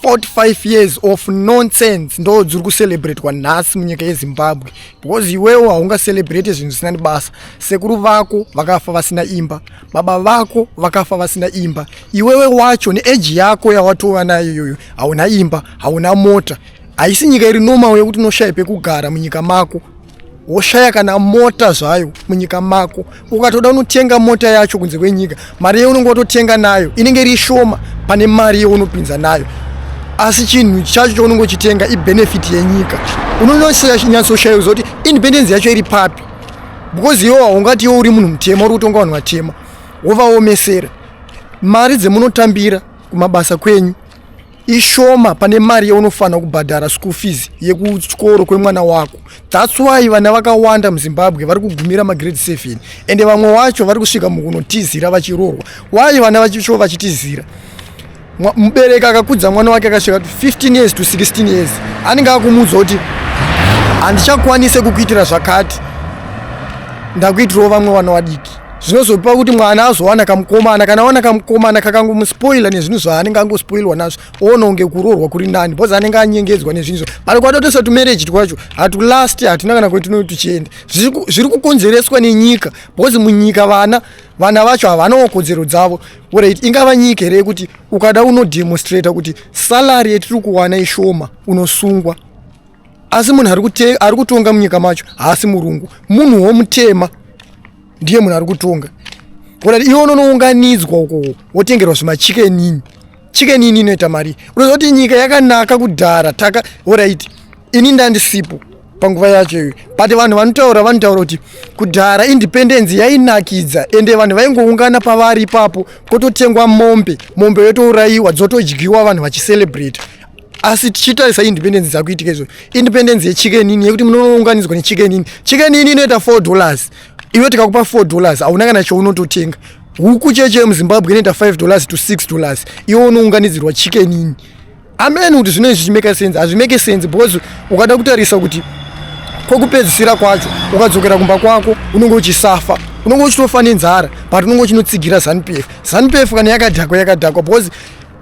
45 years of nonsense ndo dziri kucelebratwa nhasi munyika yezimbabwe because iwewo haungacelebrate zvinhu zvisina nebasa sekuru vako vakafa vasina imba baba vako vakafa vasina imba iwewe wacho neeji yako yawatova nayo iyoyo hauna imba hauna mota haisi nyika iri nomawo yekuti unoshaya pekugara munyika mako woshaya kana mota zvayo munyika mako ukatoda unotenga mota yacho kunze kwenyika mari yeunenge watotenga nayo inenge iri shoma pane mari yeunopinza nayo asi chinhu chacho chounenge uchitenga ibenefit yenyika unonyatsoshaya kuziva kuti independence yacho iri papi because iwo haungati iwo uri munhu mutema uri kutonga vanhu vatema wovaomesera mari dzemunotambira kumabasa kwenyu ishoma pane mari yaunofanira kubhadhara school fees yekuchikoro kwemwana wako thats why vana vakawanda muzimbabwe vari kugumira magrade 7 ende vamwe wacho vari kusvika mukunotizira vachiroorwa why vana vachicho vachitizira mubereki akakudza mwana wake akasvika 15 years to 16 years anenge akumuudza kuti handichakwanise kukuitira zvakati ndakuitirawo vamwe vana vadiki zvinozopa kuti mwana azowana kamukomana kana awana kamukomana kakangomuspoila nezvinhu zvaanenge angospoilwa nazvo oona kunge kuroorwa kuri nani bcause anenge anyengedzwa nezvinhu zvo but kwatotoisa tumarriage twacho hatulasti hatina kana kwetinoyo tuchienda zviri kukonzereswa nenyika bcause munyika vana vana vacho havanawo kodzero dzavo orit ingava nyika here yekuti ukada unodemonstrata kuti salary yetiri kuwana ishoma unosungwa asi munhu ari kutonga munyika macho haasi murungu munhu womutema ndiye munhu ari kutonga kuti iwe unonounganidzwa uko wotengerwa zvimachikenini chikenini inoita mari unoziva kuti nyika yakanaka kudhara taka orit ini ndandisipo panguva yacho iyoyo but vanhu vanotaura vanotaura kuti kudhara independence yainakidza ende vanhu vaingoungana pavari ipapo kototengwa mombe mombe yotourayiwa dzotodyiwa vanhu vachiselebrata asi tichitarisa independence dzakuitika izvo independence yechicken ini yekuti munounganidzwa nechicken ini chicken ini inoita four dollars iwe tikakupa four dollars hauna kana chounototenga huku cheche yemuzimbabwe inoita five dollars to six dollars iwe unounganidzirwa chicken ini ameni kuti zvinoi zvichimeka sense hazvimeke sense because ukada kutarisa kuti kwokupedzisira kwacho ukadzokera kumba kwako unenge uchisafa unenge uchitofa nenzara but unenge uchinotsigira zanupf zanupf kana yakadhakwa yakadhakwa because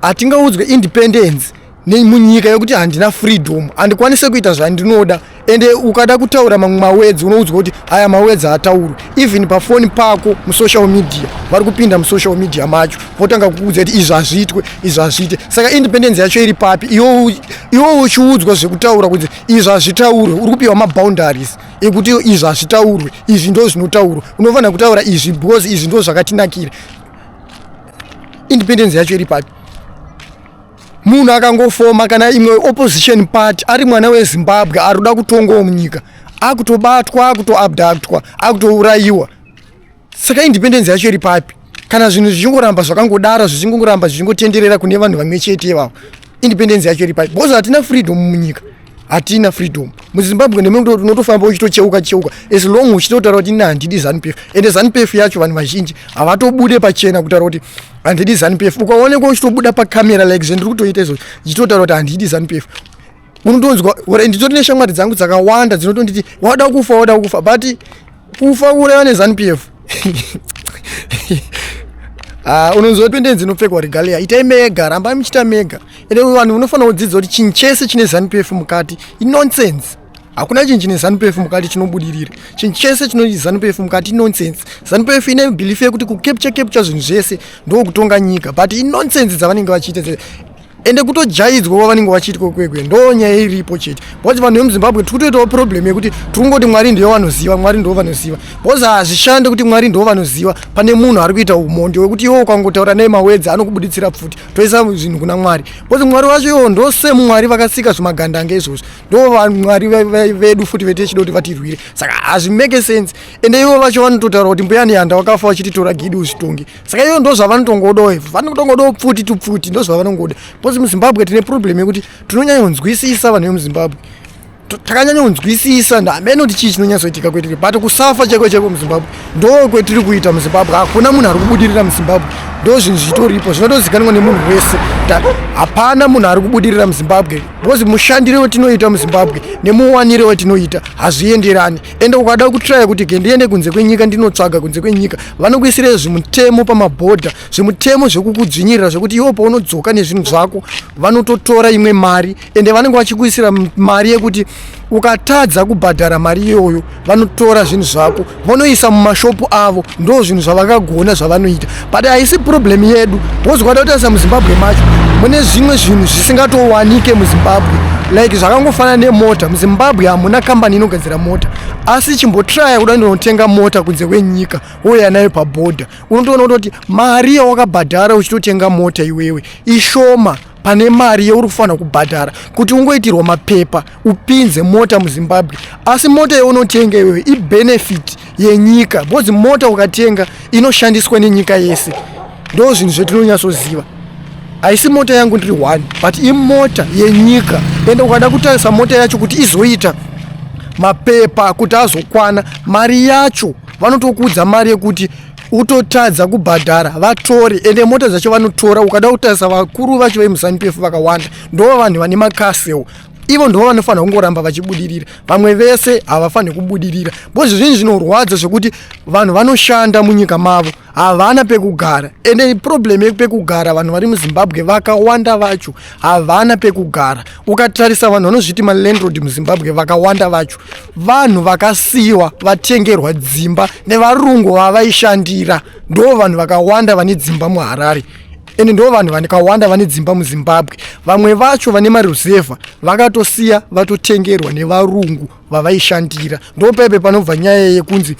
hatingaudzwe independence nemunyika yekuti handina freedom handikwanise kuita zvandinoda ende ukada kutaura mamwe mawedzi unoudzwa kuti aya mawedzi ataurwe even pafoni pako musocial media vari kupinda musocial media macho votanga kukuudza kuti izvi hazviitwe izvi hazviite saka independence yacho iri papi iwo uchiudzwa zvekutaura kuti izvi hazvitaurwe uri kupiwa maboundaries ekuti izvi hazvitaurwe izvi ndo zvinotaurwa unofanira kutaura izvi because izvi ndo zvakatinakira independence yacho iri papi munhu akangofoma kana imwe opposition party ari mwana wezimbabwe ari kuda kutongawo munyika akutobatwa akutoabductwa akutourayiwa saka independence yacho iri papi kana zvinhu zvichingoramba zvakangodaro zvichingoramba zvichingotenderera kune vanhu vamwe chete ivavo independence yacho iri pai because hatina freedom munyika hatina freedom muzimbabwe nemekuti unotofamba uchitocheuka cheuka as long uchitotaura kuti ina handidi zanupf ende zanupf yacho vanhu vazhinji havatobude pachena kutaura kuti handidi zanupf ukaonekwa uchitobuda pacamera like zvendiri kutoita izvozvo ndichitotaura kuti handidi zanupf unotonzwa nditori neshamwari dzangu dzakawanda dzinotonditi wada kufa wada kufa but kufa kuuraiwa nezanu p f Ah, unonzwa pendenzi inopfekwa regalia itai mega rambai muchiita mega ende vanhu unofanira kudzidza kuti chinhu chese chine zanup f mukati inonsense hakuna chinhu chine zanup f mukati chinobudirira chinhu chese chine zanup f mukati inonsense zanup f ine belief yekuti kucapture capture zvinhu zvese ndokutonga nyika but inonsense dzavanenge vachiita ende kutojaidzwa kwavanenge vachiitwa kwekwe ndo nyaya iripo chete because vanhu vemuzimbabwe tiri kutoitawo problem yekuti tiri kungoti mwari ndiyo vanoziva mwari ndivo vanoziva because hazvishande kuti mwari ndivo vanoziva pane munhu ari kuita umondi wekuti iwo ukangotaura naye mawedzi anokubuditsira pfuti toisa zvinhu kuna mwari because mwari vacho iwo ndo semwari vakasika zvimagandange izvozvo ndo vamwari vedu futi vete chida kuti vatirwire saka hazvimake sense ende ivo vacho vanototaura kuti mbuyani yanda wakafa vachititora gidi uzvitonge saka iyo ndo zvavanotongodawo ivo vanotongodawo pfuti tupfuti ndo zvavanongoda bcause muzimbabwe tine problem yekuti tinonyanyonzwisisa vanhu vemuzimbabwe takanyanyonzwisisa hameno kuti chii chinonyatsoitika kwetiri but kusafa cheko cheko muzimbabwe ndo kwetiri kuita muzimbabwe hakuna munhu ari kubudirira muzimbabwe ndo zvinhu zvitoripo zvinotozikanwa nemunhu wese hapana munhu ari kubudirira muzimbabwe bcause mushandire wetinoita muzimbabwe nemuwanire wetinoita hazvienderani ende ukada kutraya kuti ke ndiende kunze kwenyika ndinotsvaga kunze kwenyika vanokuisira zvimutemo pamabhodha zvimutemo zvekukudzvinyirira zvekuti iwo paunodzoka nezvinhu zvako vanototora imwe mari ende vanenge vachikuisira mari yekuti ukatadza kubhadhara mari iyoyo vanotora zvinhu zvako vonoisa mumashopu avo ndo zvinhu zvavakagona zvavanoita but haisi problem yedu because ukatotarisa muzimbabwe macho mune zvimwe zvinhu zvisingatowanike muzimbabwe like zvakangofanana nemota muzimbabwe hamuna kambani inogadzira mota asi chimbotraya kuda ndinotenga mota kunze kwenyika wouya nayo pabhodha unotoona kutoti mari yawakabhadhara uchitotenga mota iwewe ishoma pane mari yeuri kufanira kubhadhara kuti ungoitirwa mapepa upinze mota muzimbabwe asi mota yeunotenga iyoyo ibenefit yenyika because mota ukatenga inoshandiswa nenyika yese ndo zvinhu zvetinonyatsoziva haisi mota yangu ndiri one but imota yenyika ende ukada kutarisa mota yacho kuti izoita mapepa kuti azokwana mari yacho vanotokuudza mari yekuti utotadza kubhadhara vatore ende mota dzacho vanotora ukada kutarisa vakuru vacho vemusanupf vakawanda ndoo vanhu vane makasewo ivo ndivo vanofanira kungoramba vachibudirira vamwe vese havafaniri kubudirira bcause zvezvinhu zvinorwadza zvekuti vanhu vanoshanda munyika mavo havana pekugara ende problem yekupekugara vanhu vari muzimbabwe vakawanda vacho havana pekugara ukatarisa vanhu vanozviti malandrod muzimbabwe vakawanda vacho vanhu vakasiyiwa vatengerwa dzimba nevarungu vavaishandira ndo vanhu vakawanda vane dzimba muharare ende ndo vanhu vakawanda vane dzimba muzimbabwe vamwe vacho vane maruzevha vakatosiya vatotengerwa nevarungu vavaishandira ndo paipe panobva nyaya yekunzi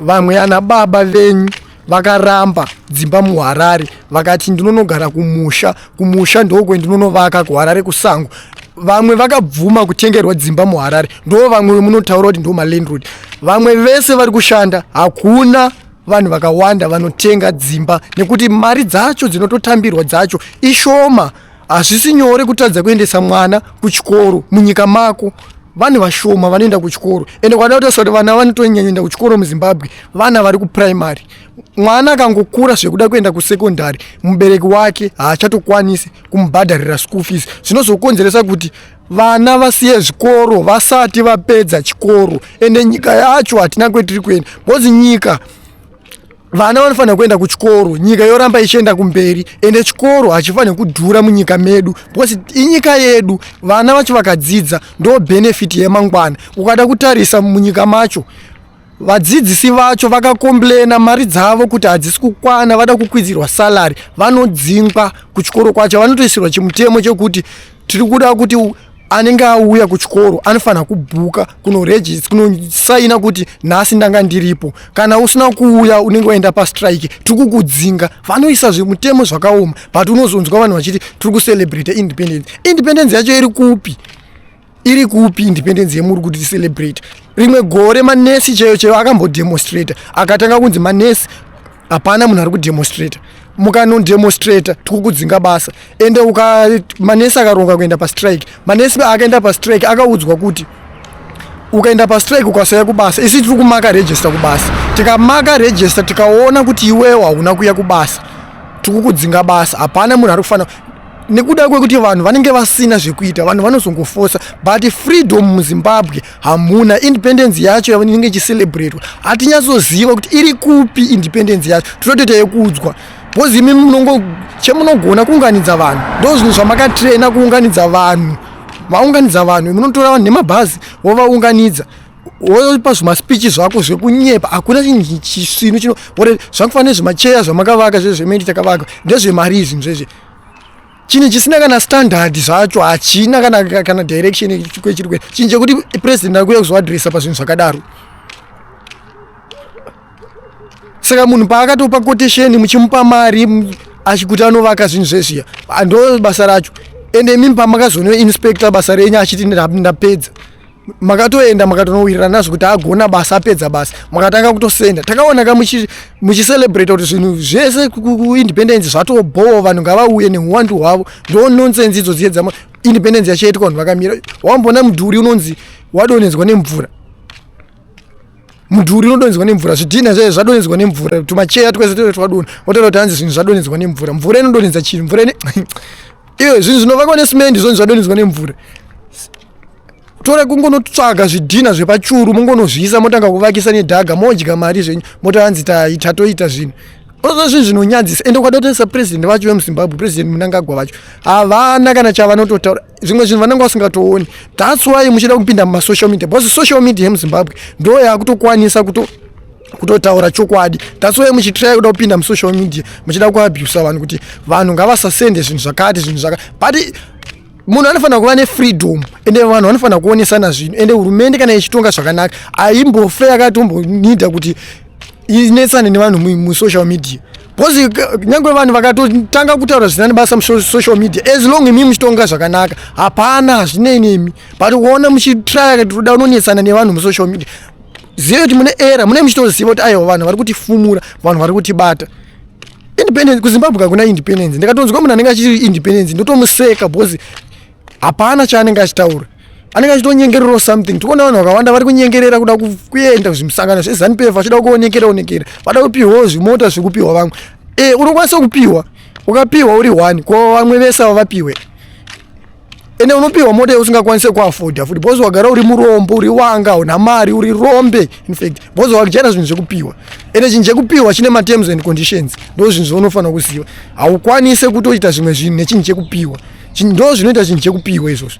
vamwe ana baba venyu vakaramba dzimba muharare vakati ndinonogara kumusha kumusha ndokwe ndinonovaka kuharare kusango vamwe vakabvuma kutengerwa dzimba muharare ndo vamwe vemunotaura kuti ndo malandrod vamwe vese vari kushanda hakuna vanhu vakawanda vanotenga dzimba nekuti mari dzacho dzinototambirwa dzacho ishoma hazvisi nyore kutadza kuendesa mwana kuchikoro munyika mako vanhu vashoma vanoenda kuchikoro ende kwada kutarisa kuti vana vanotonyanyaenda kuchikoro muzimbabwe vana vari kupuraimary mwana akangokura zvekuda kuenda kusekondary mubereki wake haachatokwanisi kumubhadharira school fees zvinozokonzeresa kuti vana vasiye zvikoro vasati vapedza chikoro ende nyika yacho hatina kwetiri kuenda bcause nyika vana vanofanira kuenda kuchikoro nyika yoramba ichienda kumberi ende chikoro hachifanire kudhura munyika medu because inyika yedu vana vacho vakadzidza ndo benefit yemangwana ukada kutarisa munyika macho vadzidzisi vacho vakakomblena mari dzavo kuti hadzisi kukwana vada kukwidzirwa salary vanodzingwa kuchikoro kwacho vanotoisirwa chimutemo chekuti tiri kuda kuti anenge auya kuchikoro anofanira kubhuka kunoregist kunosaina kuti nhasi ndanga ndiripo kana usina kuuya unenge waenda pastrike tiri kukudzinga vanoisa zvemutemo zvakaoma but unozonzwa vanhu vachiti tiri kucelebrate independence independence yacho iri kupi iri kupi independence yemuri kuti ticelebrate rimwe gore manesi chaiyo chaiyo akambodemonstrata akatanga kunzi manesi hapana munhu ari kudemonstrata mukanodemonstrata tikukudzinga basa ende uka manesi akaronga kuenda pastrike manesi akaenda pastrike akaudzwa kuti ukaenda pastrike ukasauya kubasa isi tiri kumaka regista kubasa tikamaka regista tikaona kuti iwewo hauna kuya kubasa tikukudzinga basa hapana munhu ari kufanira nekuda kwekuti vanhu vanenge vasina zvekuita vanhu vanozongofosa but freedom muzimbabwe hamuna independence yacho yainenge ichicelebratwa hatinyatsoziva kuti iri kupi independence yacho tinotoita yekuudzwa bcause imi munongo chemunogona kuunganidza vanhu ndo zvinhu zvamakatraina kuunganidza vanhu vaunganidza vanhu munotora vanhu nemabhazi wovaunganidza wopa zvimaspeechi zvako zvekunyepa hakuna chisvinu chino zvakufanira nezvemacheya zvamakavaka zvezvemeni takavaka ndezvemari izvi zvezve chinhu chisina kana standard zvacho hachina kana, kana direction kwechirwere chinhu chekuti president akuuya kuzoadressa pazvinhu zvakadaro saka munhu paakatopa quotation muchimupa mari achikuti anovaka zvinhu zvezviya ndo basa racho ende imimi pamakazono inspector basa renyu achiti ndapedza makatoenda makatonowirirana nazvo kuti agona basa apedza basa makatanga kutosenda takaona ka muchiselebrata kuti zvinhu zvese kuindependence zvatobhowa vanhu ngavauye nehuwandu hwavo ndo nonsense idzo dziye dzama independence yachaitwa vanhu vakamira wambona mudhuri unonzi wadonhedzwa nemvura mudhuri unodonhedzwa nemvura zvidhina zvaye zvadonhedzwa nemvura tumacheya twese tee twadona wotara kuti hanzi zvinhu zvadonhedzwa nemvura mvura inodonhedza chinhu mvura ine iyo zvinhu zvinovakwa nesimendi zvoni zvadonhedzwa nemvura tore kungonotsvaga zvidhina zvepachuru mongonozviisa motanga kuvakisa nedhaga modya mari zvenyu mota hanzi taita toita zvinhu oza zvinhu zvinonyadzisa ende ukada kutoisa president vacho vemuzimbabwe president munangagwa vacho havana kana chavanototaura zvimwe zvinhu vanenge vasingatooni thats why muchida kupinda mumasocial media because social media yemuzimbabwe ndo yakutokwanisa kuto kutotaura chokwadi thats why muchitrai kuda kupinda musocial media muchida kuabusa vanhu kuti vanhu ngavasasende zvinhu zvakati zvinhu zvakati but munhu anofanira kuva nefreedom ende vanhu vanofanira kuonesana zvinhu ende hurumende kana ichitonga zvakanaka aimbofe yakatombonida kuti inetsane nevanhu musocial media bcause uh, nyange vanhu vakatotanga kutaura zvisina nebasa musocial media as long imi muchitonga zvakanaka hapana hazvinei nemi but kuona muchitraya toda unonetsana nevanhu musocial media zive kuti mune era mune muchitoziva kuti aiwa vanhu vari kutifumura vanhu vari kutibata independence kuzimbabwe kakuna independence ndikatonzwa munhu anenge achii independence ndotomuseka because hapana chaanenge achitaura anenge achitonyengererawo something tikuona vanhu vakawanda vari kunyengerera kuda kuenda kuzvimusangano zvezanu pf vachida kuonekera onekera vada kupiwawo zvimota zvekupiwa vamwe e unokwanisa kupiwa ukapiwa uri one ko vamwe vese avo vapiwe ende unopiwa mota yausingakwanise kuafoda futi bhozi wagara uri murombo uri wanga una mari uri rombe infact bhozi wakuchera zvinhu zvekupiwa ende chinhu chekupiwa chine materms and conditions ndo zvinhu zvaunofanira kuziva haukwanise kutoita zvimwe zvinhu nechinhu chekupiwa ndo zvinoita chinhu chekupiwa izvozvo